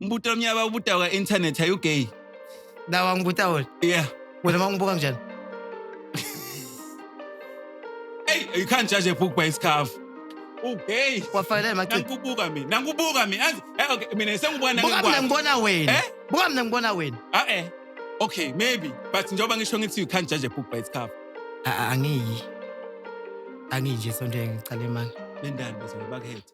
Ngibuta omnye abawubuta ka internet are you gay? Dawa ngibuta wena. Yeah. Wena mangibuka kanjani? Hey, you can't judge a book by its cover. Okay. Wafanele machithi. Nangibuka mina. Nangibuka mina. Azi, eh okay, mina sengibuka Buka mina nangibuka. ngibona wena. Eh? Buka mina ngibona wena. Ah eh. Okay, maybe. But njengoba ngisho ngithi you can't judge a book by its cover. A- a- Angiyi. Angiyi nje sonto engicale manje. Lendani bazobakhetha.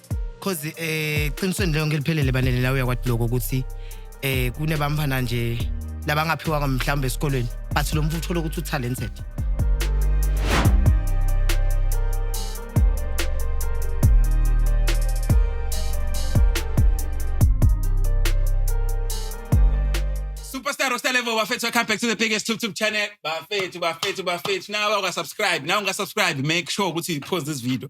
cause eh qinisweni leyo ngeliphelele banele la uyakwati lokho ukuthi eh kunebamfana nje labangaphiwanga mhlawumbe esikolweni but lo mfuthu uthole ukuthi utalented Superstar Rockstar Level bafethu welcome back to the biggest tube tube channel bafethu bafethu bafethu nawe awukasubscribe nawe ungasubscribe make sure ukuthi you post this video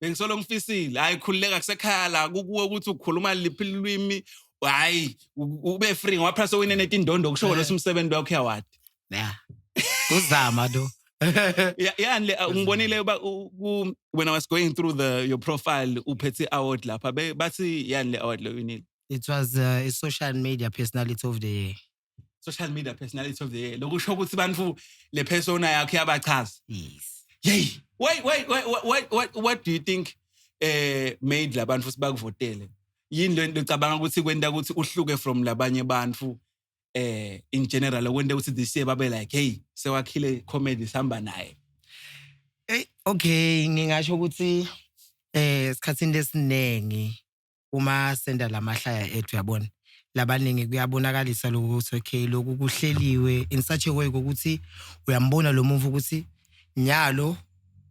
bengisolo ngifisile hayi khululeka kusekhaya la kukuwe ukuthi ukhuluma liphi lulwimi hayi ube free ngoba phela sowine netindondo kusho kona eh. umsebenzi wakho yawadi yeah uzama lo yani le ngibonile uba when i was going through the your profile uphethe award lapha bathi yani le award lo winile it was uh, a social media personality of the year social media personality of the year lokusho ukuthi bantu le persona yakhe yabachaza yes yey why why why why what, what do you think eh made labantu futhi bakuvotele yini le nto ecabanga ukuthi kwenta ukuthi uhluke from labanye bantu eh in general okwenta ukuthi this year babe like hey sewakhile comedy sihamba naye hey okay ngingasho ukuthi eh sikhathini lesiningi uma senda lamahlaya ethu yabona labaningi kuyabonakalisa lokho ukuthi okay lokhu kuhleliwe in such a way kokuthi uyambona lo muntu ukuthi nyalo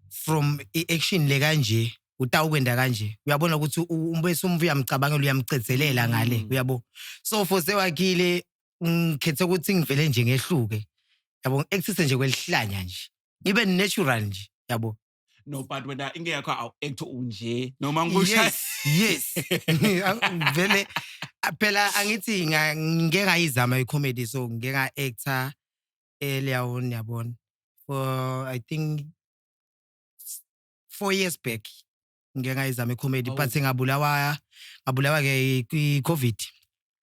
from i-action le kanje utawukwenda kanje uyabona ukuthi u- um- bese umvu uyamcabangela uyamcezelela ngale Mm. uyabo so for sewakhile ngikhethe ukuthi ngivele nje ngehluke yabo ngi-actise nje kwelihlanya nje ngibe natural nje yabo no but wena into yakho awu-act unje noma ngikushaye yes Ang- vele a- phela angithi nga- ngike ngayizama i-comedy so ngike nga-actor earlier on yabona for i think s- four years back ngike ngayizama icomedy Oh. but ngabulawa ngabulawa ke i-covid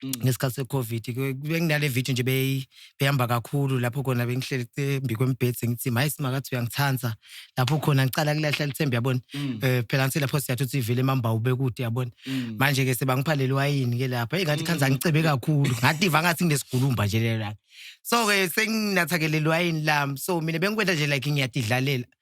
Mm. ngesikhathi se-covid Ke- benginale video nje beyi- behamba kakhulu lapho khona bengihleli embi kwembhedi sengithi maye simakathi uyangithanda lapho khona ngicala kulahla lithembe yabona Mm. um phela ngithi lapho siyathi uthi ivele imambawu bekude yabona Mm. manje ke sebangiphalele wayini ke lapha eyi ngathi khanza ngicebe kakhulu ngativa ngathi nginesigulumba nje lelanga so-ke senginathakelele wayini lami so mina bengikwenta nje like ngiyadidlalela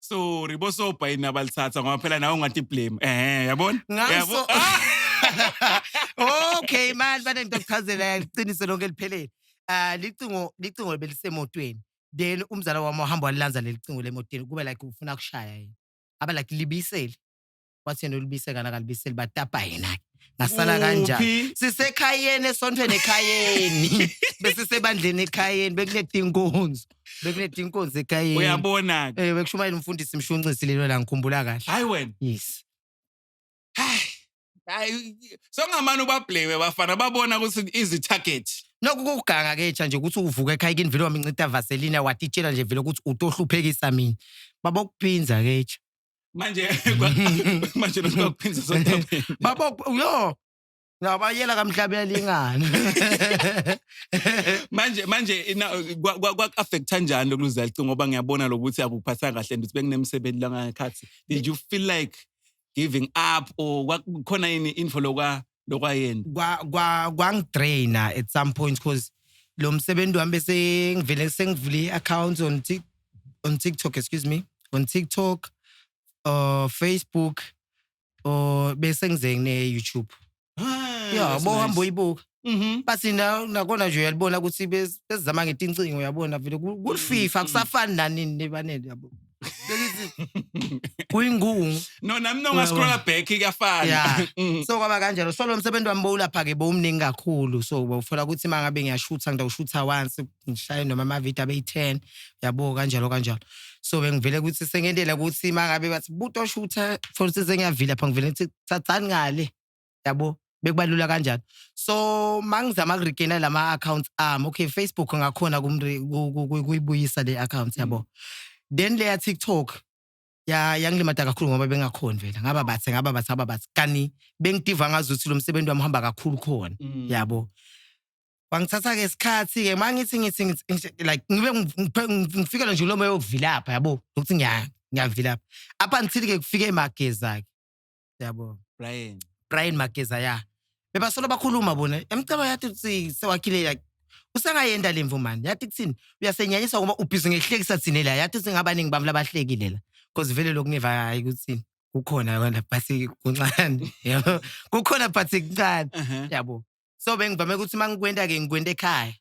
sorry bosobha yini abalithatha ngoba phela nawe ungathi blame ehe yabona Yabo- Ngaso- okay manje bane ngento kuchazela yaqiniso lonke liphelele ah licingo licingo belisemotweni then umzala wami uhamba walilanza lelicingo lemotweni kube like ufuna kushaya yini aba like libisele wathi yena ulibise kana kalibiseli batapa yena ngasala kanjani Uphi? sisekhayeni esontweni ekhayeni besisebandleni ekhayeni bekunetinkonzo bekunetinkonzo ekhayeni uyabona ke eh bekushumayela umfundisi mshunqisi lelo la ngikhumbula kahle hayi wena yes hayi songamane ubabhleme bafana babona ukuthi izi target Lokhu kuganga ke cha nje ukuthi uvuka ekhaya kini vele wamincita vaselina watitshela nje vele ukuthi utohluphekisa mina. Baba ukuphinza ke cha. manje manje lokho kuphindza sodabeni baba yo ngabayela kamhlabela ingane manje manje kwaku-affecta njani lokuluza licingo ngoba ngiyabona lokuthi akuphathanga kahle and ukuthi benginemsebenzi langakhathi did you feel like giving up or kwakukhona yini info lokwa lokwayena kwa kwa kwangidraina at some point cause lo msebenzi wami bese ngivele sengivule i-account on Tik- on TikTok excuse me on TikTok uh Facebook uh bese ngize ngine YouTube Ah, yeah that's bo nice. hamba uyibuka Mhm. bathi na- nakona nje uyalibona ukuthi bez- bezizama ngetincingo uyabona vele ku- kulififa Mm, mm. kusafani nanini nebanele yabo kuyingungu no nami no ngascrolla back kuyafana yeah. Mm. so kwaba kanjalo so lo msebenzi wami bowulapha ke bowumningi kakhulu so bawufola ukuthi mangabe ngiyashutha ngidawushutha once ngishaye noma ama video abe 10 yabo kanjalo kanjalo so bengivele ukuthi sengendela ukuthi mangabe bathi buto shutha for instance ngiyavila pha ngivele ukuthi thathani ngale yabo bekubalula kanjani so mangizama kuregaina lama accounts ami okay Facebook ngakhona kuyibuyisa le account yabo mm. then leya TikTok ya yangilimata kakhulu ngoba bengakhoni vela ngaba bathe ngaba bathe ngaba bathe kani bengidiva ngazi ukuthi lo msebenzi wami uhamba kakhulu khona mm. yabo wangithatha ke isikhathi ke mangithi ngithi like ngibe ngifikela nje lo moya wokuvilapha yabo ukuthi ngiya ngiyavilapha up until ke kufike emageza ke yabo Brian. Brian Mageza ya bebasolo bakhuluma bona emcaba yathi ukuthi sewakhile like usengayenda lemvu mani yathi kuthini uyasenyanyiswa ngoba ubhizi ngehlekisa thina la yathi ukuthi ngabaningi bami labahlekile la because vele lokhu ngiva hayi ukuthi kukhona kona phathi kuncane yabo kukhona phathi kuncane Uh-huh. yabo so bengivame ukuthi uma ngikwenta ke ngikwenta ekhaya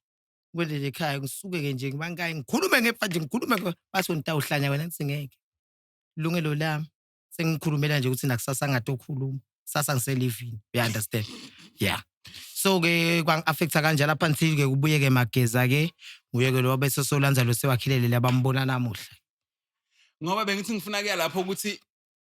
ngikwenta nje ekhaya ngisuke ke nje ngibangayi ngikhulume ngefa nje ngikhulume nge- bathi ngitawuhlanya wena ngithi ngeke lungelo lami sengikhulumela nje ukuthi nakusasa ngathi okhuluma sasa ngiselivini you understand yeah so ke kwangi-affecta kanjalo up until ke kubuye ke mageza ke nguye ke lowa bese solandza lo sewakhilelele abambona namuhla ngoba bengithi ngifuna kuya lapho ukuthi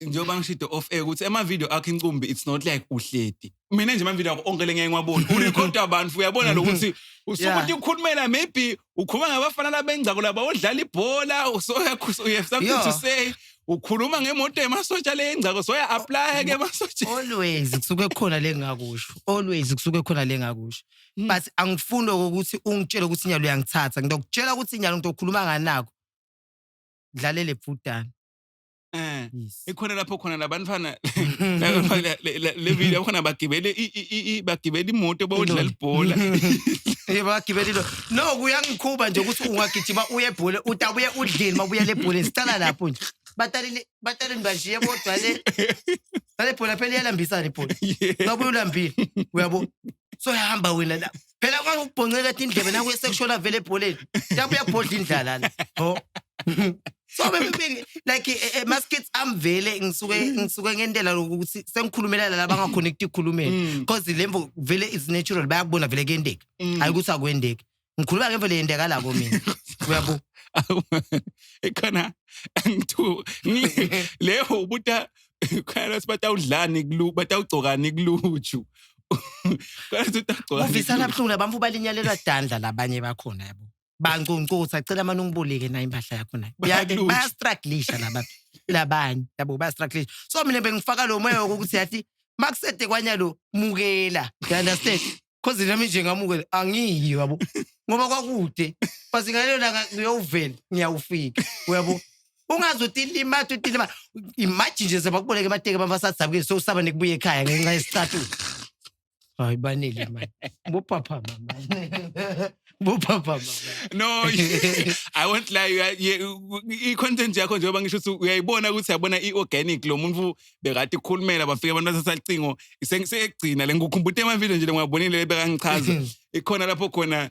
njengoba ngishide off air ukuthi ema-video akho incumbi it's not like uhleti mina nje amavideo akho onke lengeke ngiwabone urekhoda abantu uyabona lokuthi usuke Yeah. ukuthi ukhulumela maybe ukhuluma ngabafana labengcako laba odlala ibhola usoya you have something to Yeah. say ukhuluma ngemoto yemasotsha leyengcako soya apply ke emasotsha always kusuke khona lengakusho always kusuke khona lengakusho Mm. but angifuni lokho ukuthi ungitshele ukuthi inyalo uyangithatha ngizokutshela ukuthi inyalo ngizokhuluma nganako dlalele bhudana Eh, yes. ikhona lapho khona labantwana le video khona bagibele bagibele imoto bawudlala ibhola eh bagibele into no kuyangikhuba nje ukuthi ungagijima uye ebhola utabuye udlile mabuya le bhola sicala lapho nje batalini batalini bashiye bodwa le le bhola phela iyalambisana ibhola ngabuye ulambile uyabo so hamba wena lapho phela kwake ukubhonceka ethi indlebe nakuye sekushona vele ebholeni yabe uyabhodla indlala la ho so bebe like eh, eh, mas kids am vele ngisuke ngisuke ngentela lokuthi sengikhulumela la bangakhona ukukhulumela Mm. because lembo vele is natural bayakubona vele kuyendeka Mm. hayi ukuthi akwendeki ngikhuluma ke vele yendeka la ko mina uyabo ikhona ngithu leyo ubuta khona sibatawudlani kulu batawugcokani kuluju Kanti utagcwala. Uvisa kabuhlungu abantu balinyalelwa dandla labanye bakhona yabo. Bancuncutha cela manje ungibulike nayo impahla yakho nayo. Yake Bayaluja. bayastrugglisha laba labanye yabo bayastrugglisha. So mina bengifaka lo moya wokuthi yathi makusede kwanya lo mukela. You understand? Cause nami nje ngamukela angiyi yabo. Ngoba kwakude. Base ngalelo langa ngiyovela ngiyawufika. Uyabo? ungazi uthi ilimata uthi ilimata imaji nje sebakuboleka emateki abantu basadabukile sowusaba nekubuya ekhaya ngenxa yesicathulo hayi banele mani bophaphama mani bophaphama no i won't lie you are- you- i-content yakho njengoba ngisho ukuthi uyayibona ukuthi yabona i-organic lo muntu bekade ikhulumela bafike abantu bathatha licingo sengigcina le ngikhumbute emavideo nje le ngiyabonile bekangichaza ikhona lapho khona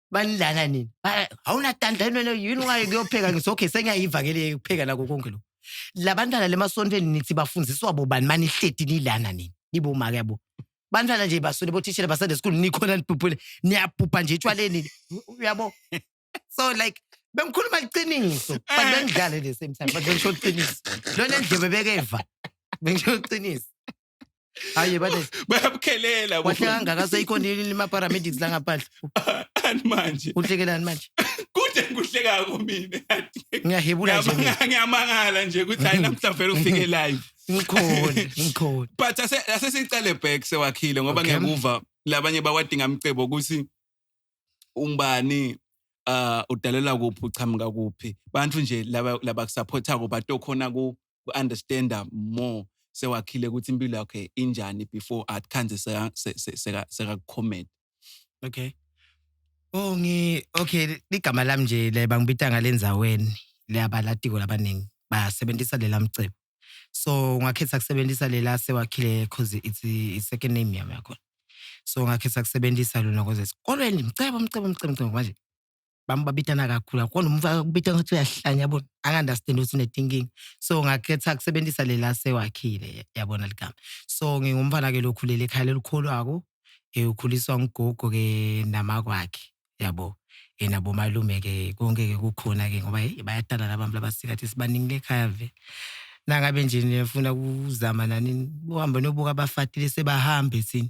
banilana nini Ba- awunatandla yini wena yini ungaye kuyopheka ngithi okay sengiyayiva ke le kupheka nako konke lokhu la bantwana le masontweni nithi bafundiswa bobani manihleti nilana nini nibomake yabo bantwana nje baswele bothishela basande school nikhona nibhubhule niyabhubha nje etshwaleni uyabo so like bengikhuluma iqiniso but bengidlale the same time but bengisho iqiniso lona ndlebe bekeva bengisho iqiniso hayi bane bayabukhelela wahle kangaka seyikhona yini ama-paramedics la ngaphandle ani manje uhlekelani manje kude ngikuhlekako mina ngiyahebula nje mina. Ngiyamanga- ngiyamangala nje ukuthi hayi namhla vele ufike live ngikhona ngikhona but ase- asesiqale back sewakhile ngoba Okay. ngiyakuva labanye bawadinga mcebo ukuthi umbani uh udalela kuphi uchamuka kuphi bantu nje laba laba kusupportako batokhona ku ku-understanda more sewakhile ukuthi impilo yakhe injani before athi khanze sekakukhomeda okay oh ngi okay ligama lami nje le bangibita ngalenzaweni leyabalatiko labaningi basebenzisa lela mcebo so ngakhetha kusebenzisa lela sewakhile cause it's a second name yami yakhona so ngakhetha kusebenzisa lona cause esikolweni mcebo mcebo mcebo mcebo manje bami babitana kakhulu kakhulu umfaka kubita ngathi uyahlanya yabona angandastand ukuthi unetinkinga so ngakhetha kusebenzisa lela sewakhile yabona ligama so ngingumfana ke lokhulele ekhaya lelikhulwako ukhuliswa ngugogo ke namakwakhe yabo yena bomalume ke konke ke kukhona ke ngoba bayadala labantu labasikathi sibaningi lekhaya ve nangabe nje nifuna ukuzama nani uhambe nobuka abafatile sebahambe thina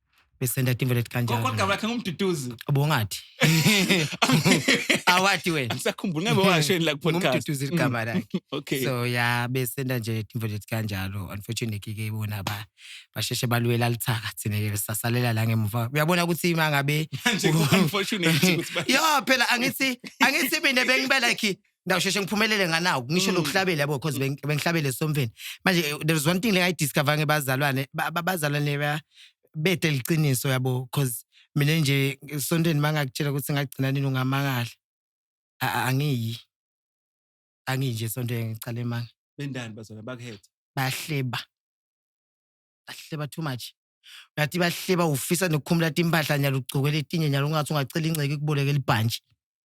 besenda timbe lethi kanjalo kodwa bakhe ngumduduzi ubongathi awathi wena ngisakhumbula ngabe washeni la kupodcast ngumduduzi ligama mm. lakhe okay so ya besenda nje timbe lethi kanjalo unfortunately ke bona ba basheshe balwela lithaka thina ke sasalela la ngemuva uyabona ukuthi mangabe unfortunately yo phela angithi angithi mina bengibelakhi ngiyasheshe ngiphumelele nganaku ngisho Mm. lokuhlabela yabo because beng- bengihlabele somveni manje eh, there is one thing like i discover ngebazalwane ba- ba- bazalwane ba- bete liqiniso yabo because mina nje esontweni mangakutshela ukuthi ngagcina nini ungamangala A- a- angiyi angiyi nje esontweni ngicala emanga bendani bazona bakuhetha bahleba bahleba too much uyathi bahleba ufisa nokukhumula timpahla nyalo ugcoke letinye nyalo ungathi ungacela ingceke ikuboleke libhantshi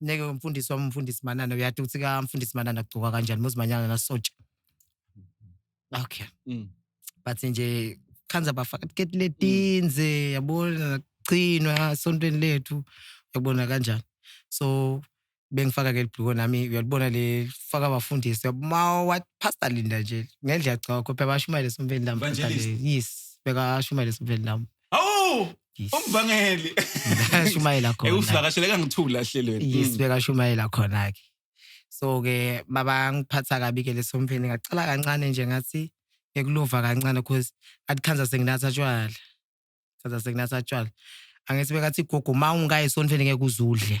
neke umfundisi wami umfundisi manana uyati ukuthi kamfundisi manana kugcoka kanjani muzimanyana nasotsha okay mm. but nje khanza bafaka tiketi letinze mm. yabona nagcinwa esontweni lethu yabona kanjani so bengifaka ke libhluko nami uyalibona le faka abafundisi ma what pastor linda nje ngendlela gcokho phela bashumayele sompeni lami yes bekashumayele sompeni lami Awu! Yes. Umvangeli. Bekashumayela Eh khona. usivakashele kangithula ehlelweni. Yes, Mm. bekashumayela khona-ke. So-ke baba ngiphatha kabi-ke leso mfeni ngaqala kancane nje ngathi ngikulova kancane because athi khanza senginatha tshwala. Khanza senginatha tshwala. Angithi bekathi gogo uma ungayi sontweni ngeke uzudle.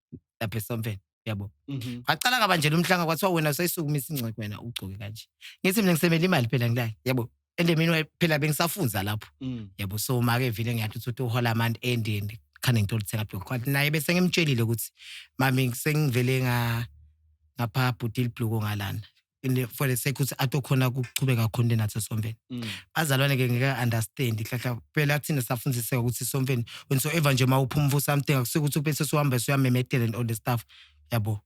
lapha esomfeni yabo Mhm. waqala kabanjela umhlanga kwathiwa wena usayisukumisa ingxoxo wena ugcoke kanje ngithi mina ngisemele imali phela ngilake yabo endemini wayo phela bengisafunza lapho Mm. yabo so make vile ngiyathi ukuthi uhola amant endini khane ngithola uthenga blog kwathi naye bese ngimtshelile ukuthi mami sengivele nga ngapha bhutile bloko ngalana in the, for the sake ukuthi atokhona ukuchubeka khona into enathi esomfeni Mm. bazalwane ke ngeke understand hlahla phela thina safundiseka ukuthi somfeni whensoever nje uma uphuma for something akusuke ukuthi ubese suhamba suyamemedela and all the stuff yabo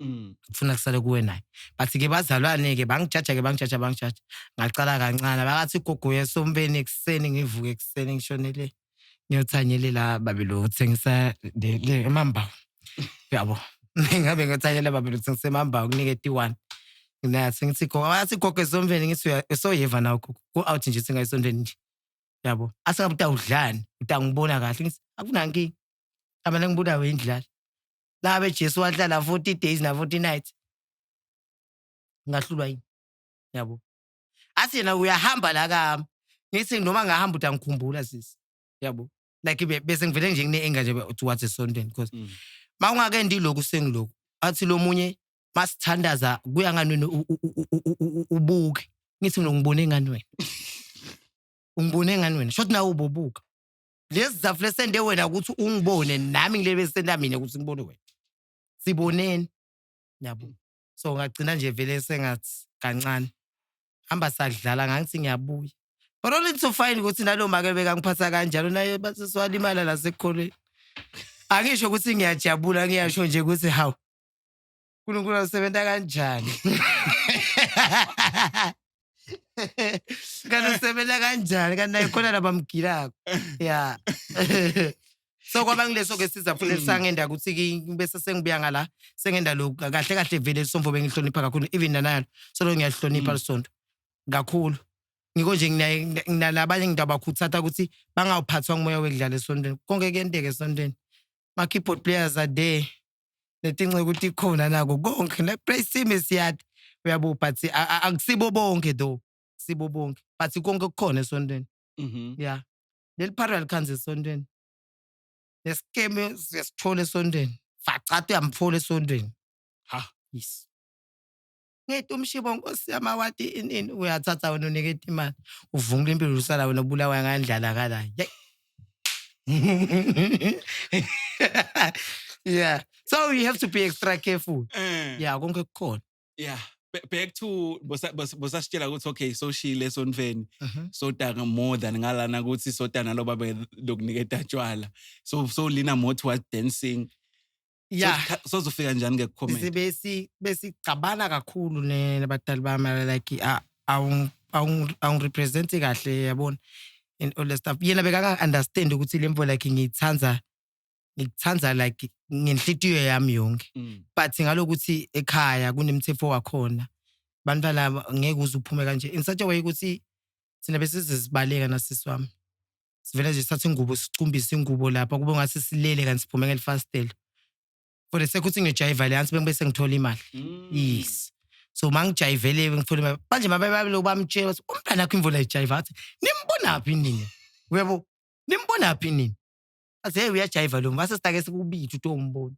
Mm. kufuna kusale kuwe naye but ke bazalwane-ke bangijaja-ke bangijaja bangijaja ngaqala kancane bakathi igogo yesomfeni ekuseni ngivuke ekuseni ngishonele ngiyothanyelila babi lutho ngisemambawu yabo ngabe ngiyothanyela babi lutho ngisemambawu kunike tiwani nathi ngithi gogo athi gogo esondweni ngithi usoyiva nawo gogo ku-out nje singayisondweni nje yabo asingabe uta udlani uta ngibona kahle ngithi akunankinga abana ngibulawe indlala labe jesu wahlala 40 days na-40 nights ngahlulwa yini yabo athi yena uyahamba la kami ngithi noma ngahamba uthi angikhumbula sisi yabo like bese ngivele nje ngine-enga nje towards esontweni because mm. ma ungake ndilokhu sengiloku athi lo munye masithandaza kuya ngani wena ubuke ngithi mina ngibone ngani wena ungibone ngani wena shothi nawe ubobuka lezi zafu lesende wena ukuthi ungibone nami ngilebe senda mina ukuthi ngibone wena siboneni yabo so ngagcina nje vele sengathi kancane hamba sadlala ngangithi ngiyabuya but only to find ukuthi nalo make bekangiphatha kanjalo naye baseswalimala lasekukholweni angisho ukuthi ngiyajabula ngiyasho nje ukuthi hawu uNkulunkulu usebenza kanjani kanti usebenza kanjani kanti naye khona labamgilako ya so kwaba ngileso-ke siza futhi lisangenda ukuthi ki- bese sengibuya ngala sengenda lokhu kahle kahle vele lisomfo bengihlonipha kakhulu even nanalo solo ngiyalihlonipha Mm. lisonto kakhulu ngiko nje nginaye- ngina- nginalabanye ngidabakhuthata ukuthi bangawuphathwa ngumoya wekudlala esontweni konke kuyenteka esontweni ma-keyboard players are there netinxa ukuthi ikhona nako konke like praise team is yard uyabo but akusibo bonke though sibo bonke but konke kukhona esontweni mhm. ya leli phara likhanza esontweni nesikeme siyasithola esontweni facata uyamthola esontweni ha yes ngeti umshibo nkosi yami awati inini uyathatha wena uniketa imali uvungula impilo usala wena ubulawa ngandlala kala yeah so you have to be extra careful eh. yeah konke kukhona yeah back to bosasitshela ukuthi okay soshile esonfeni mhm. sodaka more than ngalana ukuthi sodana loba lokuniketa tshwala so so lina more towards dancing ya Sozikha- sozofika njani ke kucomment size besi besigcabana kakhulu ne- nabadali bami I like a- awu- awu- awungirepresenti kahle yabona and all that stuff yena bekanga-understand ukuthi le mvo like ngiyithanda ngikuthanda like ngenhlitiyo yami yonke Mm. but ngalokuthi ekhaya kunemthetho wakhona abantu balaba ngeke uze uphume kanje in such a way ukuthi thina besizizibaleka nasisi wami sivele nje sithathe ingubo sicumbise ingubo lapha kube ngathi silele kanti siphume ngelifastela for the sake ukuthi ngiyojayiva leyansi bengibe sengithola imali Mm. yes so uma ngijayivele ngithola imali manje mabebabele ubamtshela ukuthi umntana akho imvula ijayiva athi nimbonaphi nini uyabo nimbonaphi nini athi hey uyajayiva lo mase sitake sikubili uthi umbona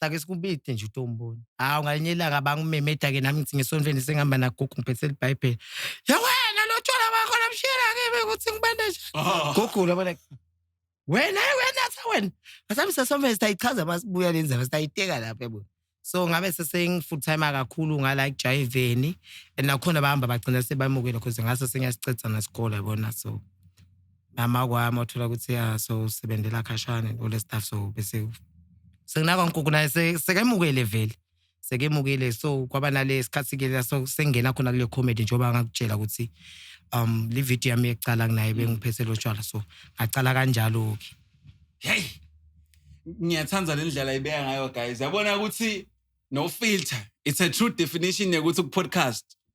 sake sikubithe nje utomboni hawu ngalinye ilanga bangumemeda-ke nami ngithi ngesontweni sengihamba nagogo ngiphethe libhayibheli yewena lo tshwala wakho lomshila kimi ukuthi ngibande njani gogula bona wena wena sa wena asabe sesomele sitayichaza uma sibuya le ndaba sitayiteka lapho yabo so ngabe sesengi-full time kakhulu ngala ekujayiveni and nakhona bahamba bagcina sebamukela cause ngase sengiyasicedza nesikole yabona so nama kwami othola ukuthi ya so usebenzela khashane all the stuff so bese sekunaka nkuku naye se- sekemukele vele sekemukele so kwaba nale sikhathi ke la so sengena khona kule comedy njengoba ngakutshela ukuthi um le video yami yekucala kunaye bengiphethe lo tshwala so ngacala kanjalo ke hey ngiyathanda le ndlela ibeka ngayo guys yabona ukuthi no filter it's a true definition yokuthi ku-podcast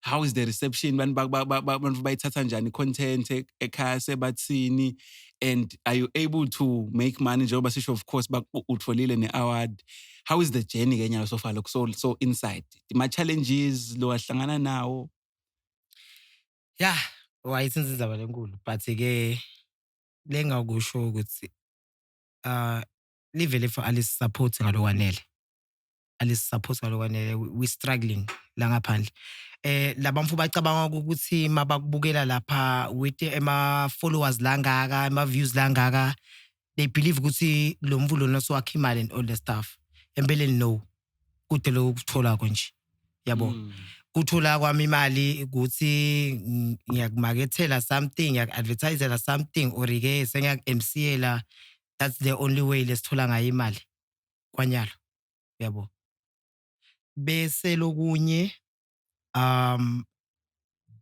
how is the reception abantu bayithatha njani content e-, ekhaya sebathini and are you able to make money njengoba sisho of course utholile ne-award how is the journey ke nyawo sofa lokho so, so inside ma-challenges lo ahlangana nawo ya wayisenza inzaba lenkulu but-ke lengakusho ukuthi uh livele for alisaphothi ngalokwanele alisisaphotha lokwanele we struggling la ngaphandle eh labamfu bacabanga ukuthi mabakubukela lapha with ema followers langaka ema views langaka they believe ukuthi lo mvu lona siwakhe imali and all the stuff empeleni no kude lokho kuthola konje yabo mm. kuthola kwami imali ukuthi ngiyakumakethela something ngiyaku-advertisela something or-ke sengiyaku-mcela that's the only way lesithola ngayo imali kwanyalo uyabo bese lokunye um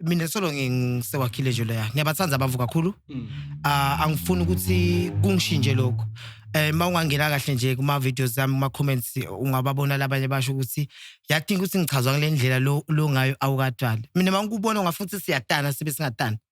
mina solo ngisewakhile nje leya ngiyabathanda abavu kakhulu mm. ah angifuni ukuthi kungishintshe lokho eh mawungangena kahle nje kuma videos zami kuma comments ungababona labanye basho ukuthi yadinga ukuthi ngichazwa ngalendlela lo lo ngayo awukadala mina mangikubona ungafuthi siyatana sibe singatana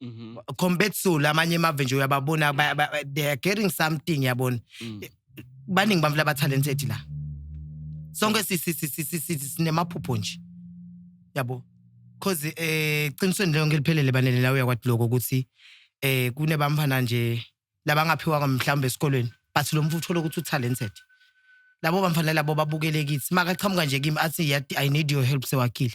Mhm. compared to lamanye amave nje uyababona ba- ba- ba- they are getting something yabona Mm. baningi bamfla ba talented la sonke si- si- si- si- si- si- sinemaphupho nje yabo cause eh qinisweni leyo ngeliphelele banele la uyakwati lokho ukuthi eh kunebamfana nje labangaphiwanga mhlawumbe esikolweni but lo mfuthu uthola ukuthi utalented labo bamfana labo babukele kithi makaqhamuka nje kimi athi "Yati, i need your help sewakile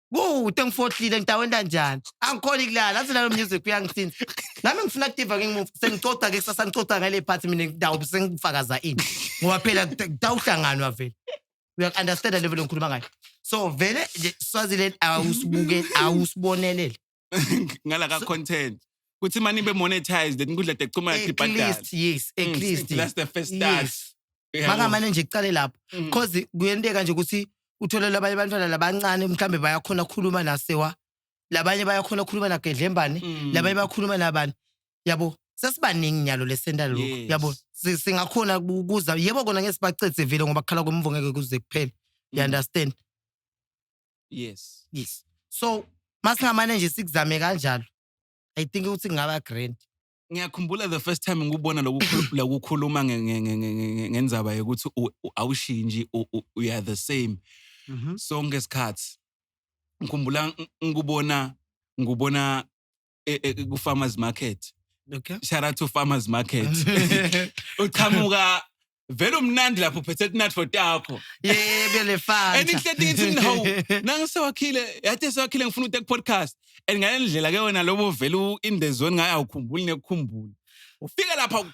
Kude ngifohlile ngidawenda kanjani? Angikhoni kulala, athi nalo music uyangisinda. Nami ngifuna kudiva ngingimuva, sengicoca ke kusasa ngicoca ngale part mina ngidawube sengifakaza ini. Ngoba phela kudawuhlanganwa vele. Uyak understand level engikhuluma ngayo. So vele nje Swaziland awusibuke awusibonelele. ngala ka content kuthi mani be monetized inkundla tekuxhumana at ibhadala least yes at Mm, least still, that's the first start. yes Uyabo? makamane nje kuqale lapho Mm. cause kuyenteka nje ukuthi uthole labanye abantwana labancane mhlambe bayakhona ukukhuluma nasewa labanye bayakhona ukukhuluma nagedlembane Mm. labanye bakhuluma nabani yabo sesibaningi nyalo lesenta lokho Yes. yabo Si- singakhona ku- kuza yebo kona ngeke sibacedze vile ngoba kukhala kwemvo ngeke kuze kuphele you Mm. understand yes yes so masingamane nje sikuzame kanjalo i think ukuthi kungaba grand ngiyakhumbula the first time ngikubona lokukhuluma ngenzaba yokuthi awushintshi we are the same mhm. sonke isikhathi ngikhumbula ngikubona ngikubona e- e- ku-farmers market Okay. shout out to farmers market uqhamuka vele umnandi lapho uphethe tinatfo takho Yeah, bele fanta. and inhle ngithi no nangisewakhile yathi sewakhile ngifuna ukute ku-podcast and ngale ndlela ke wena lobo vele u-in the zone ngaye awukhumbuli nekukhumbula ufike lapha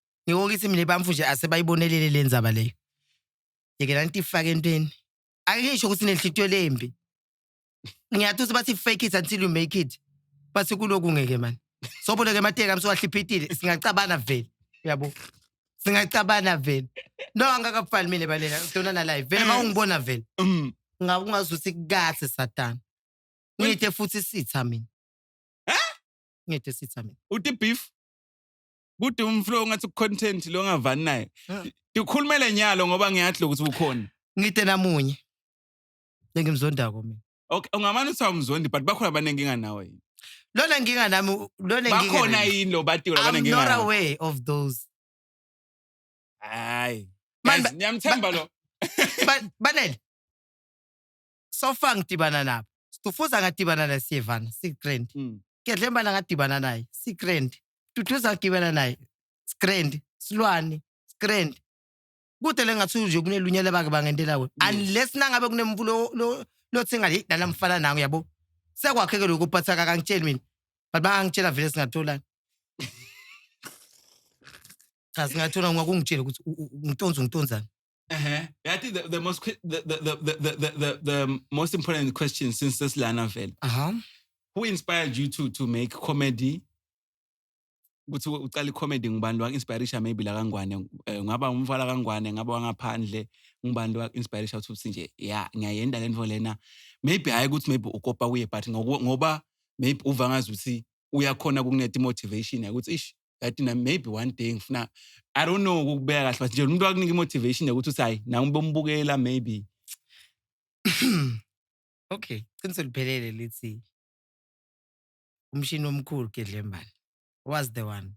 Ngiko kithi mina bamfu nje asebayibonelele le ndzaba leyo. Yekela nitifake entweni. Ake ngisho ukuthi nenhlitiyo lembi. Ngiyathi ukuthi bathi fake it until you make it. Bathi kuloku ngeke mani. Sobona ke mateka msowahliphitile singacabana vele. Uyabo? Singacabana vele. No angakafani mina balena udona na live. Vele mawungibona vele. Mm. Ngabe ungazuthi kahle satana. Ngithe futhi sitha mina. Ngithe sitha mina. Uti beef. Kude umflow ngathi content lo ngavani naye. Ah. Ngikhulumele nyalo ngoba ngiyadla ukuthi ukhona. Ngide namunye. Lengimzondako mina. Okay, ungamane uthi awumzondi but bakhona abaningi nganawe. Lona nginga nami lona nginga. Bakhona yini lo batiwe labane nginga. I'm not aware of those. Hayi. Manje ngiyamthemba lo. Banele. sofa ngidibana nabo stufuza ngadibana naye siyevana sigrand Mm. gedlembana ngadibana naye sigrand duduza ngidibana naye sigrand silwane sigrand kude le ngathi nje kunelunye lebake bangentela wena Yes. unless nangabe kunemvulo lo- lothi ngathi "Hey, nana mfana nangu yabo sekwakheke lokhu but akakangitsheli mina but bangangitshela vele singatholani cha singathola ngakungitshela ukuthi u- u- ungitonza ungitonzani Uh-huh. I think the, the most the the, the, the, the, the, the most important question since this Lana Vale. Uh-huh. Who inspired you to to make comedy? ukuthi uqale comedy ngubani wa inspiration maybe la kangwane eh, ngaba umfala kangwane ngaba wangaphandle ngubani wa inspiration ukuthi nje ya ngiyayenda lento lena maybe hayi ukuthi maybe ukopa kuye but ngoba maybe uva ngazi ukuthi uyakhona ukukunika i-motivation ukuthi ish kanti na maybe one day ngifuna i don't know ukubeka kahle but nje umuntu akunika i-motivation yokuthi uthi hayi nawe umbomubukela maybe okay qiniso liphelele lithi umshini omkhulu gedlembane was the one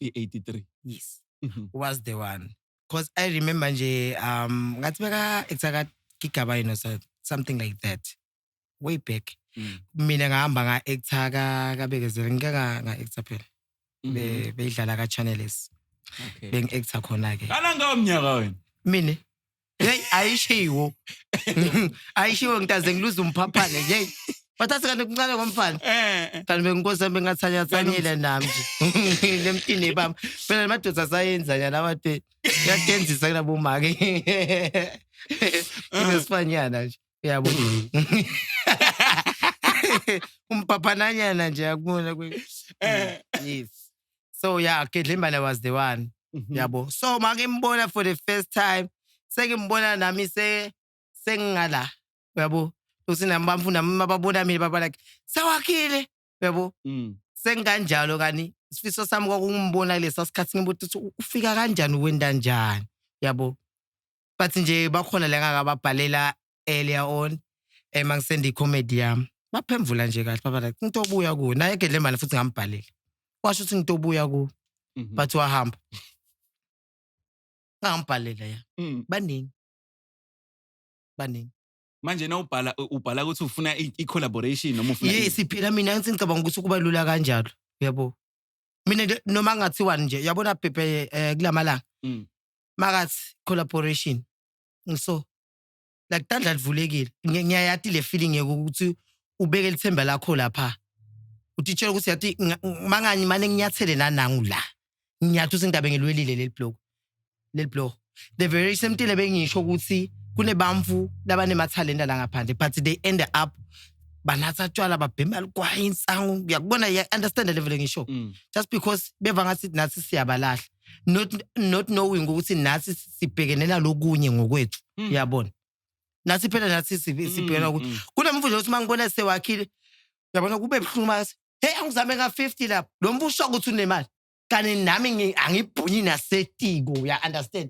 i-83 yes Mhm. was the one because i remember nje um ngathi beka exact gigaba you know so something like that way back mm. mina ngahamba nga actor ka kabekezela ngike nga nga actor phela mm-hmm. be beyidlala ka channels okay beng actor khona ke kana ngawo mnyaka wena mina hey ayishiwo ayishiwo ngitaze ngiluza umphaphane nje bathathe kanti kuncane ngomfana eh, eh. kanti benginkosi yami bengathanyathanyela nami nje lemtini bami phela namadoda asayenza nyana abade yadenzisa kunabomake nginesifanyana nje uyabo umpaphananyana nje akubona eh. yes so yeah kedlimbana was the one mhm. yabo so make mbona for the first time seke mbona nami se sengingala uyabo usinami bamfunda mama babona mina baba like sawakhile uyabo mm. sengikanjalo kani isifiso sami kwakungimbona lesa sikhathi ngibuthi ufika kanjani wenda njani yabo bathi nje bakhona la ngakababhalela earlier on eh mangisenda icomedy yami baphemvula nje kahle baba like into obuya kuyo naye gedlemane futhi ngambhalela washo ukuthi into obuya kuyo Mhm. bathi wahamba ngambhalela ya Mm. baningi baningi manje na ubhala ubhala ukuthi ufuna i- i-collaboration noma ufuna i- yes phela mina ngithi ngicabanga ukuthi kuba lula kanjalo uyabo mina nje- noma ngathiwani nje uyabona bhebhe eh, kulamalanga Mm. makathi collaboration ngiso like tandla livulekile ngiyayati le feeling yokuthi ubeke lithemba lakho lapha utitshela ukuthi yathi mangani mane nginyathele nanangu la ngiyathi usindaba ngilwelile leli blog leli blog the very same thing bengisho ukuthi kunebamfu labanemathalenta la ngaphandle but they end up banatha tshwala babhema ligwayi insangu uyakubona ya understand level ngisho mm. just because beva ngathi nathi siyabalahla not not knowing ukuthi nathi sibhekene nalokunye ngokwethu Mm. uyabona nathi phela nathi si- sibhekena ukuthi mm. kunemvuzo ukuthi uma ngibona sewakhile uyabona kube buhlungu mase hey angizame ka-50 lapho lo mntu usho ukuthi unemali kanti nami ngi- angibhunyi nasetiko uya-understand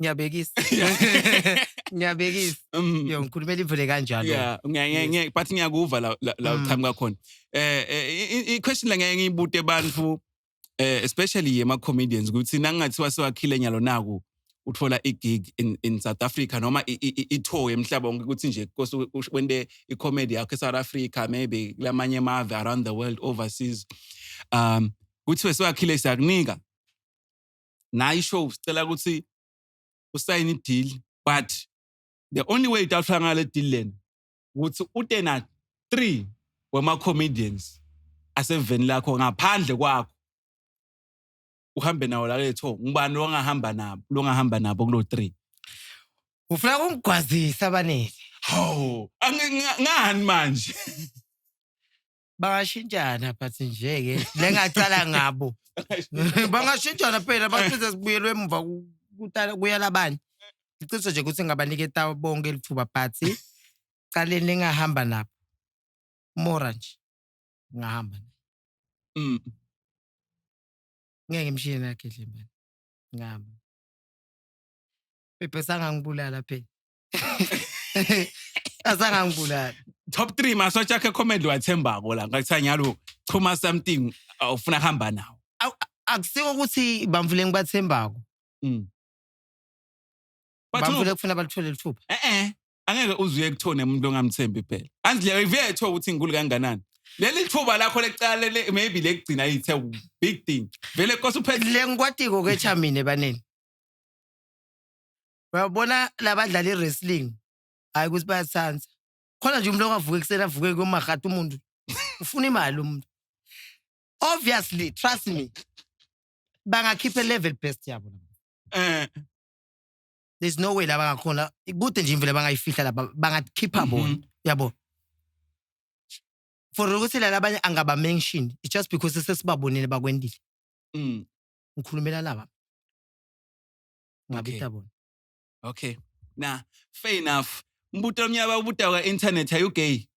ngiyabekisa ngiyabekisa Mm. yo ngikhulumela ivule kanjalo Yeah, ngiya- ngiya- Yes. ngiya- but ngiyakuva la la- la Mm. uqhamuka khona eh eh, i- i question la ngeke ngiyibute abantu eh especially yema comedians ukuthi nangathiwa sewakhile nyalo naku uthola i gig in in South Africa noma i- i- i- i tour emhlaba wonke ukuthi nje kose u- ush- wende i comedy yakho e South Africa maybe lamanye amave around the world overseas um kuthiwe sewakhile siyakunika nayi show sicela ukuthi usayine ideal but the only way itawuhlala ngale deal lena ukuthi ute na 3 wema comedians aseveni lakho ngaphandle kwakho uhambe nawo la letho ngubani longahamba nabo longahamba nabo kulo 3 ufuna kungigwazisa abanele hawu ngani manje bangashintshana but nje-ke le ngacala ngabo bangashintshana phela basize sibuyelwe emuva ku- kuta- kuyala abanye iqiniso nje ukuthi ngabaniketa bonke lithuba but caleni lingahamba nabo mora nje ngahamba naye. Mm. ngeke mshiye nakhe dlembane ngihamba bebhe sangangibulala phela azange angibulali top 3 masotsha akhe comedy wathembako la ngakuthiwa nyalo chuma something uh, ufuna kuhamba nawo Awu, a- akusiko ukuthi bamvule ngibathembako Mm. But bamvule no, kufuna balithole lithupha eh eh angeke uzuye kuthone umuntu ongamthembi phela andle iveke thola ukuthi ngikulu kanganani leli thuba lakho lecala le maybe lekugcina ithe big thing vele kosa uphethe le ngikwatiko ke cha mina ebaneni Uyabona labadlala i-wrestling hhayi ukuthi bayasithanda. Khona nje umuntu ongavuka ekuseni avuke komahata umuntu. Ufuna imali umuntu. Obviously, trust me. Bangakhipha level best yabo. Eh. There's no way laba ngakhona. Kude nje imvela bangayifihla laba bangakhipha mhm. bona. Yabo. For ukuthi la labanye angaba mentioned. It's just because sesibabonile bakwendile. Mm. Ngikhulumela laba. ngabutha bona okay na fair enough mbuto omnyaba ubuta kwa internet are you gay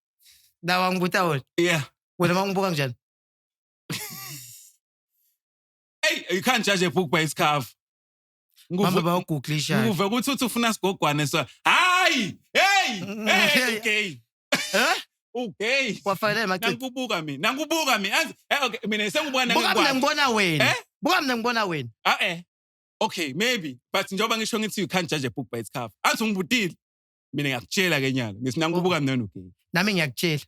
dawa ngibutha wona yeah wena mangibuka kanjani hey you can't judge a book by its cover mama bawuguglisha nguve ukuthi uthi ufuna sigogwane so hayi hey mm, hey okay huh okay wafanele machithi nangibuka mina nangibuka mina eh, okay mina sengibuka nangibuka mina ngibona wena eh? buka mina ngibona wena ah eh okay maybe but njengoba ngisho ngithi you can't judge a book by its cover athi ungibutile mina ngiyakutshela ke nyalo ngithi nangibuka mina nogay nami ngiyakutshela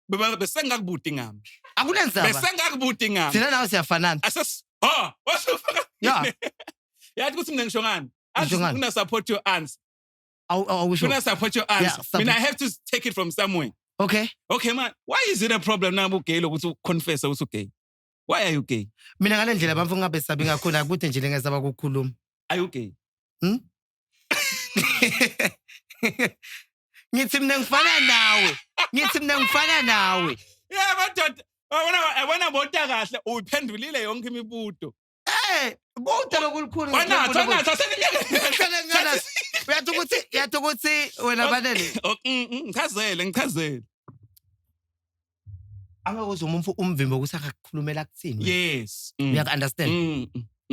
baba besengakubuti ngami akunenzaba besengakubuti ngami thina nawe siyafanana ases ha washo yeah yathi ukuthi mina ngisho ngani athi una support your answer awu awu sure una support your answer yeah, mina i have to take it from somewhere okay okay man why is it a problem now ugay lokuthi uconfess ukuthi ugay why are you gay mina ngale ndlela bamfo ngingabesabi ngakhona akude nje lengesaba ukukhuluma are you gay Hmm? ngithi mina ngifana nawe ngithi mina ngifana nawe yeah madoda wabona wabona bota kahle uyiphendulile yonke imibuto Eh, kude lokulukhulu. Wanatha, wanatha, seninyaka. Uyathi ukuthi, uyathi ukuthi wena balele. Mm, mm, ngichazele, ngichazele. Angakuzwa umfo umvimbo ukuthi akakhulumela kuthini. Yes. Mm. Uyaku-understand?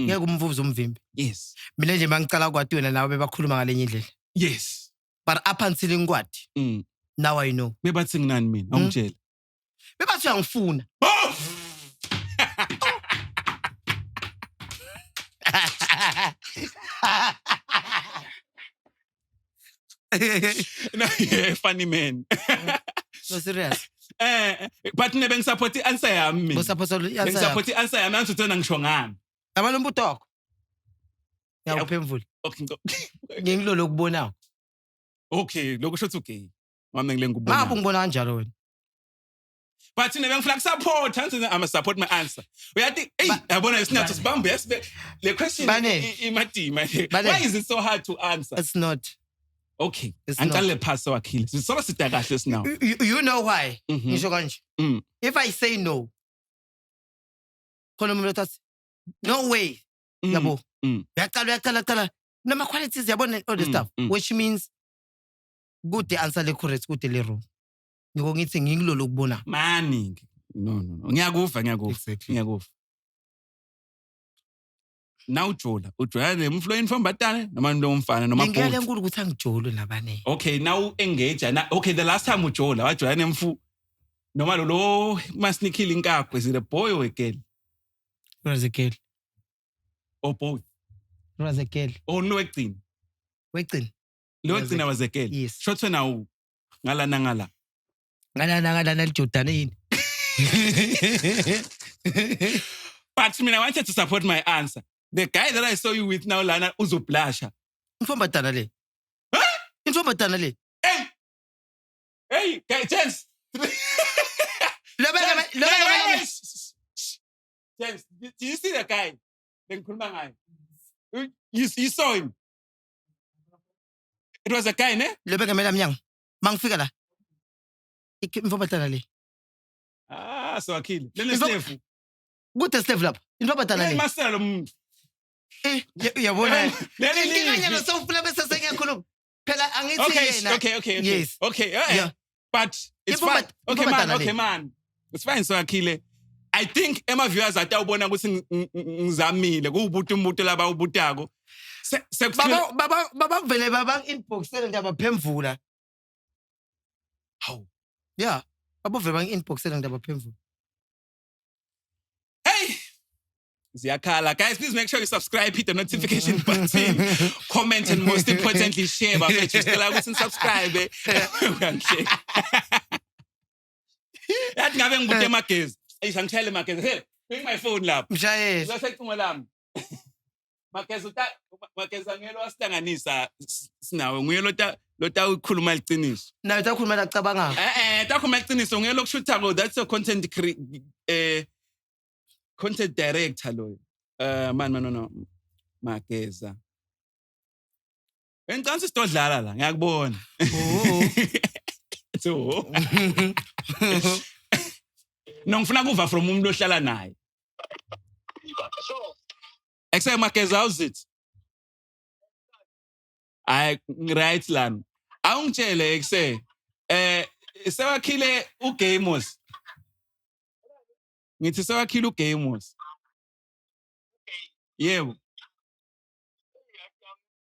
Ngeke umvuze umvimbi. Yes. Mina nje mangicala kwati wena nawe bebakhuluma ngalenye indlela. Yes. But up until inkwati. Mm. Now I know. Bebathi nginani mina, awungitshela. bebathi uyangifuna Oh! No, yeah, funny man. no serious Eh, but ne bengisupport i-answer yami mina. bosaphotha answer yakho Bengisupport i-answer yami angithi uthena ngisho ngami. yabona umbuto wakho ngiyakuphendvula Okay, ngicela- ngengilolo okubonayo okay, lokho sho ukuthi ugay. Mama ngile ngikubona. Ngabe ungibona kanjalo wena? But mina bengifuna kusupport, angithi I'm support my answer. Uyathi, hey, yabona isinatho sibambe yesibe le question imadima. Why is it so hard to answer? It's not. Okay. Angiqale phasi wakhile. Sisola sida kahle sinawo. You know why? Mhm. Ngisho kanje. Mm. If I say no, khona umuntu othathi no way. Mm. Yabo. Mm. Uyaqala uyaqala qala. Nama qualities yabona all this stuff which means kude answer le correct kude le wrong ngiko ngithi ngikulolo kubona mani ngi- no no no ngiyakuva ngiyakuva exactly ngiyakuva nawujola ujola le mflo yenfambatane noma into yomfana noma ngeke bhuti lenkulu ukuthi angijolwe nabane okay now engage na okay the last time ujola wajola nemfu noma lo lo masinikhile inkakho is it a boy or a girl was a girl or both was a girl or no ekugcina wegcina Lo wagcina wazekela. Yes. Shothwe nawu ngala nangala. Ngala nangala nalijodana yini? But mina I wanted to support my answer. The guy that I saw you with now lana uzoblasha. Mfomba dana le. Huh? Mfomba dana le. Hey. Hey, guy James. Lobeka lobeka. James, do you see the guy? Bengikhuluma ngaye. You, you saw him. It was a guy, ne? Lebe ngemela mnyango. Mangifika la. Ikhi- Imfo abadala le. Ah, so akhile. Lena Imfo- slevu. Kude slave lapha. Into abadala Hey, le. masela lo muntu. Eh, ya- Uyabona. Leli Inkinga livi. nyalo sewufuna bese sengiyakhuluma. Phela angithi Okay, yena. okay, okay, okay. Yes. Okay, eh, eh. Yeah. but it's Iphuma- fine okay iphuma man dala le. okay man it's fine so akhile i think ema viewers atawubona ukuthi ng- ng- ng- ngizamile kuwubuti umbuto laba ubutako Se- sekufika- Baba baba baba vele baba inboxele ndaba phemvula. Hawu. Yeah. Baba vele bang inboxele ndaba phemvula. Hey, ziyakhala guys please make sure you subscribe hit the notification button comment and most importantly share bafethu sicela ukuthi nisubscribe kanhle yathi ngabe ngikude emagezi eyi sangishayele emagezi hey bring my phone lapho mshayeli usasecingo lami Mageza uta Mageza ngeke wasihlanganisa sinawe nguye lota lota ukhuluma liqiniso. Nayo takhuluma lacabanga. Eh eh takhuluma liqiniso nguye lokushutha ko that's your content cre eh content director loyo. Eh man man no no Mageza. Bengicela ukuthi sidodlala la, ngiyakubona. Oh. Ethi, "Oh." No ngifuna kuva from umuntu ohlala naye. Ekuse Mageza how's it? Ay right lan. Awungitshele ekuse eh sewakhile uGamers. Ngithi sewakhile uGamers. Yebo.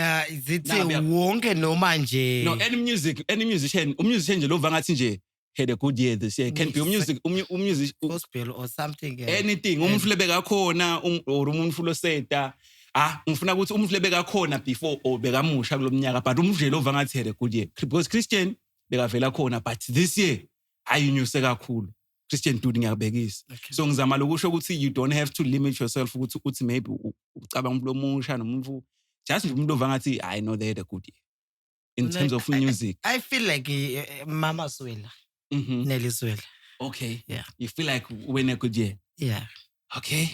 Ah, zithi Nah, bia- wonke noma nje no any music any musician umusician nje lova ngathi nje had a good year this year can be umusic umu- umusic u- gospel or something eh. anything umuntu ufuna beka khona um- or umuntu ufuna seta ah ngifuna ukuthi umuntu ufuna beka khona before or bekamusha kulomnyaka but umuntu nje lova ngathi had a good year because christian bekavela khona but this year ayinyuse kakhulu Christian dude ngiyakubekisa okay. so ngizama lokusho ukuthi you don't have to limit yourself ukuthi uthi maybe ucabanga umuntu omusha nomuntu just nje umuntu ovangathi i know they had a good year in like, terms of music i, I feel like uh, mama swela mm -hmm. nelly swela okay yeah you feel like when a good year yeah okay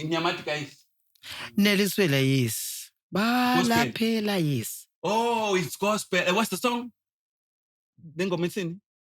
nyamati guys nelly swela yes balaphela yes oh it's gospel uh, what's the song nengoma ithini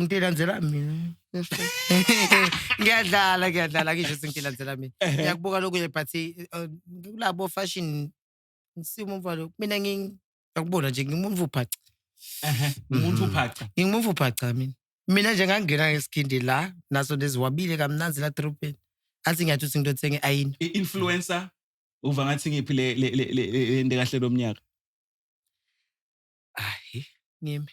ngilandzela mina ngiyadlala ngiyadlala ngisho sengilandzela mina eh. ngiyakubuka lokunye but eh, eh, kulabo fashion ngisimo umvalo mina ngiyakubona nje ngimuntu ubhaca umuntu mhm. ubhaca ngimuntu ubhaca mina mina nje ngangena ngesigindi la naso neziwabile kamnanzi la dropeni athi ngiyathi uthi ngitothe nge-ayini i-influencer uva ngathi ngiphi le le le le kahle lomnyaka ayi ngimi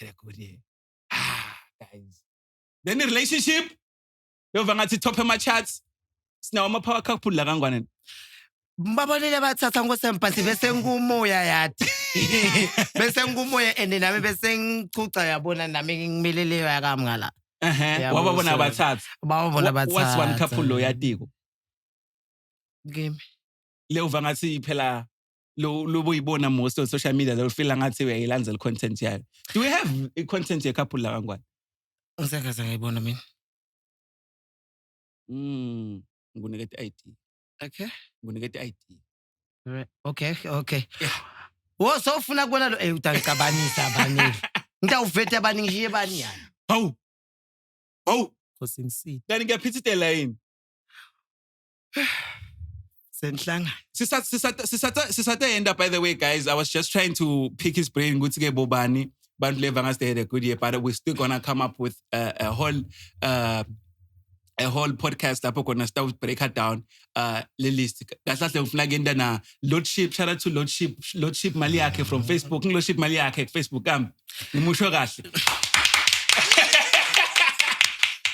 erekodiye ah guys then relationship yova ngathi top ema charts sinawo ama power couple la kangwane babonile bathatha ngosempansi bese ngumoya yathi bese ngumoya and nami bese ngichucha yabona nami ngimileleyo yakamngala ehe Yabo, wababona so- abathatha babona Wa- bathatha what's one couple lo yatiko kimi leyova ngathi phela lo lobuyibona most on social media lo feel ngathi uyayilandela content yayo do we have a content ye couple la kangwane ngisakaza ngayibona mina mm ngikunike i ID okay ngikunike i ID okay okay wo sofuna kubona lo eh utangicabanisa abaningi ngitawuvete abaningi shiye bani yani hawu hawu Nkosi ngisithe. Kanti ngiyaphithitela yini? senhlangano Sisa- sisata- sisata- sisatayenda by the way guys i was just trying to pick his brain ukuthi ke bobani bantu leva ngathi they had a good year but we're still gonna come up with uh, a whole uh, a whole podcast lapho khona sitawubreaker down uh, le list kahle kahle ngifuna kuyenta na lordship shout out to lordship lordship mali yakhe from facebook ngilordship mali yakhe kufacebook kambi ngimusho kahle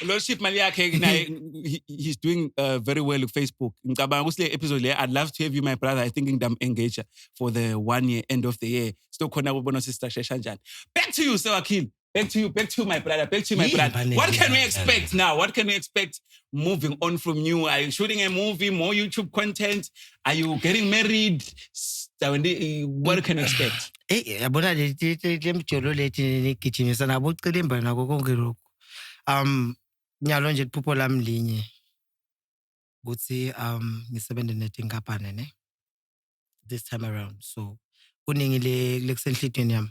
lordship mali yakhe naye he- he's doing uh, very well kufacebook ngicabanga ukuthi le episode le i'd love to have you my brother i think ngidam engager for the one year end of the year sitokhona kubona ukuthi sistrashesha njani back to you sewakhile Back to you, back to you, my brother, back to you, my Yini brother. bane What can we nina, expect Ella? now? What can we expect moving on from you? Are you shooting a movie, more YouTube content? Are you getting married? S- Dawendi, What can we expect? eyi yabona le- le- le- le mjolo lethi nigijimisa nabo ucilimba nako konke lokhu um nyalo nje liphupho lami linye ukuthi um ngisebenze netinkampane ne this time around so kuningi le lekusenhlitweni yami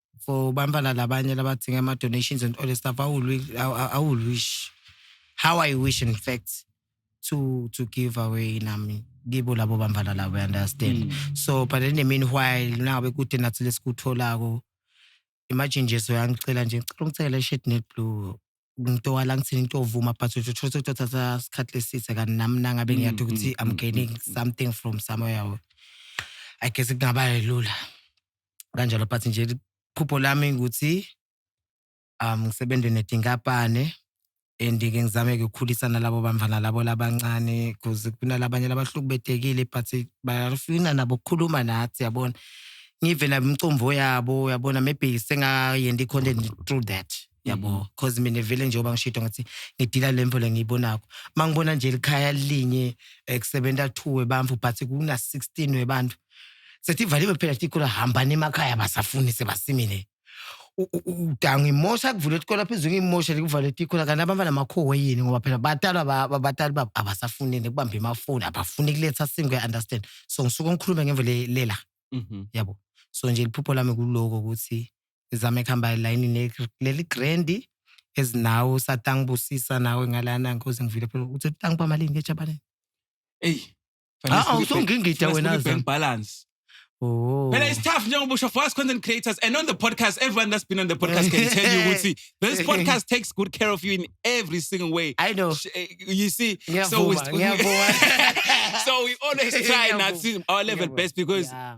for bantwana labanye labadinga ama-donations and all the stuff i will, wi- I, I- I will wish how i wish in fact to to give away nami kibo labo bantwana labo you understand so but in the meanwhile nangabe kude nathi lesikutholako imagine nje soyangicela nje ngicela ungicele shit neblue ngito walang sini ngito vuma but uthi uthole ukuthi uthatha isikhathi lesithe kanti nami nangabe Mm, ngiyathi ukuthi mm, i'm mm, gaining mm, mm. something from somewhere or- i guess kungaba lula kanjalo but nje iphupho lami ukuthi um ngisebenze netinkampane and ke ngizame-ke ukukhulisa nalabo bamvana labo labancane because kunalabanye labahlukubetekile but bafuna nabo ukukhuluma nathi yabona ngive nabo imicomvo yabo yabona maybe sengayendi i-content through that yabo mm-hmm. cause mina vele njengoba ngishito ngathi ngidila lemvo lengiyibonako mangibona nje likhaya linye eh, kusebenza two webantu but kuna 16 webantu sethi valiwe phela tikolo hambani emakhaya basafuni sebasimile udanga imosha kuvula isikole phezulu ngimosha likuvale tikhola kanti abafana makhowe yini ngoba phela batalwa abatali babo abasafunile kubamba emafoni abafuni kuletha singu understand so ngisuke ngikhulume ngemvo lela mhm. yabo so nje liphupho lami kuloko ukuthi izame kuhamba elayinini leli grendi ezinawo usatangibusisa nawe ngalana nkosi ngivile phela uthi utangiba malini ngejabaneni eyi ah, usungingida wena bank balance Oh. Phela it's tough njengoba usho for us content creators and on the podcast everyone that's been on the podcast can tell you ukuthi this podcast takes good care of you in every single way. I know. Eh, you see ngiyavuma, so we, ngiyavuma. so we always try not to our level best because yeah.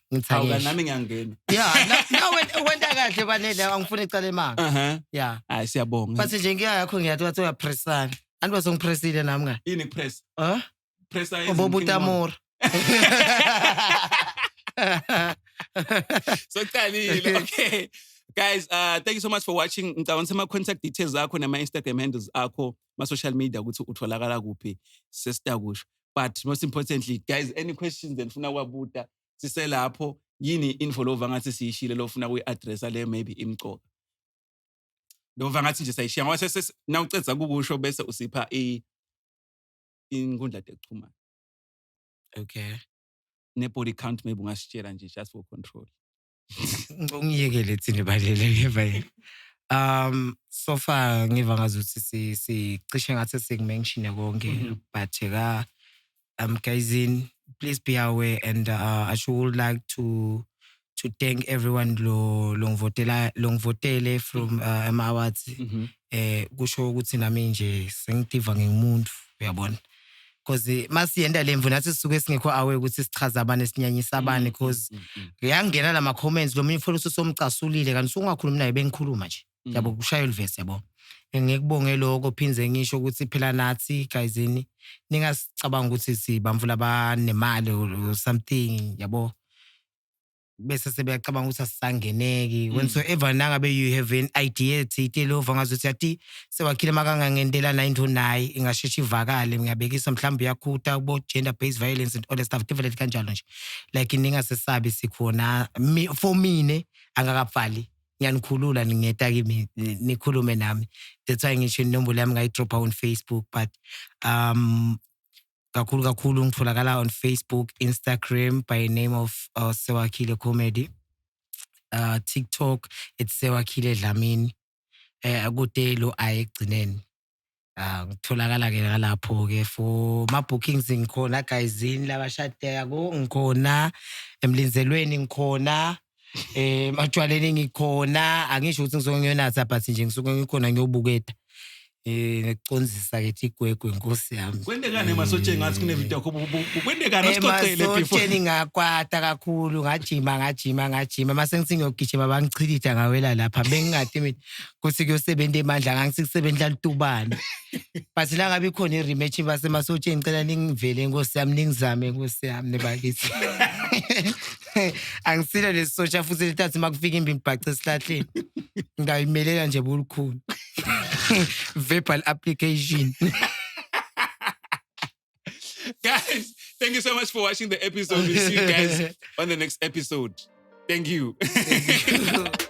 Ngithi Hawu ake kanti ngisho. nami ngiyangena. Yeah, na- na went- wenta kahle kwanele angifuni icala emanga. Aha. Yeah. Hayi siyabonga. Bathi nje ngiya yakho ngiyathi wathi uyapressana. Anti wasongipressile nami nga. Yini press? Huh? Press Obobutamora. So kuqalile. Okay. Guys, uh thank you so much for watching. Ngicabanga ukuthi ama contact details akho nama Instagram handles akho ma social media ukuthi utholakala kuphi sesitakusho but most importantly guys any questions enifuna kwabuta siselapho yini info lova ngathi siyishile lofuna kuyi-addressa le maybe imcoka lova ngathi nje sayishiya ngoba nawucedza kukusho bese usipha inkundla tekuchumana okay ne-body count maybe ungasitshela nje just for control ngiyekele thina balele ngeva yini um so far ngiva ngazuthi si sicishe ngathi sikumenshine konke mm-hmm. but ka um guys in please be aware and uh, I should like to to thank everyone lo longivotela longivotele from uh, ama awards mm-hmm. eh kusho ukuthi nami nje sengitiva ngimuntu uyabona cause masiyenda le mvu nathi sisuke singekho awe ukuthi sichaza abani esinyanyisa abani cause Mm, mm, uyangena la ma-comments lo munye ufola ususomcasulile kanti usungakhulumi naye bengikhuluma nje mm. yabo kushaya ulivesi yabo ngikubonge lokho phinde ngisho ukuthi phela nathi gayizini ningasicabanga ukuthi sibamvula abanemali or or something yabo bese sebeyacabanga ukuthi asisangeneki when mm. so ever nangabe you have an idea ethi itelova ngazothi athi sewakhile makangangentela nayo into naye ingasheshe ivakale ngiyabekisa mhlawumbe uyakhutha kubo-gender based violence and all that stuff develop kanjalo nje like ningasesabi sikhona for mine angakafali ngiyanikhulula ningeta kimi nikhulume nami that's why ngisho inombolo yami ngayidropha on facebook but um kakhulu kakhulu ngitholakala on facebook instagram by name of uh, sewakhile comedy uh, tiktok it's sewakhile dlamini um kude lo ayi ekugcineni Ah, ngitholakala ke ngalapho ke for ma bookings ngikhona guysini labashadeka ko ngikhona emlinzelweni ngikhona eh matshwaleni ngikhona angisho ukuthi ngisuke ngiyonatha but nje ngisuke ngikhona ngiyobuketa eh ngicondzisa ke igwegwe nkosi yami kwendekani emasotsheni ngathi kunevideo yakho kwendekani asixoxele emasotsheni ngakwata kakhulu ngajima ngajima ngajima mase ngithi ngiyogijima bangichilitha ngawela lapha bengingadi mina kuthi kuyosebenza emandla ngangithi kusebenza lutubana but la ngabe ikhona i-rematch basemasotsheni ngicela ningivele nkosi yami ningizame nkosi yami nebakithi angisile lesi sotsha futhi litathi uma kufika imbi ngibhace esihlahleni ngayimelela nje bolukhulu verbal application guys thank you so much for watching the episode we'll see you guys on the next episode thank you, thank you.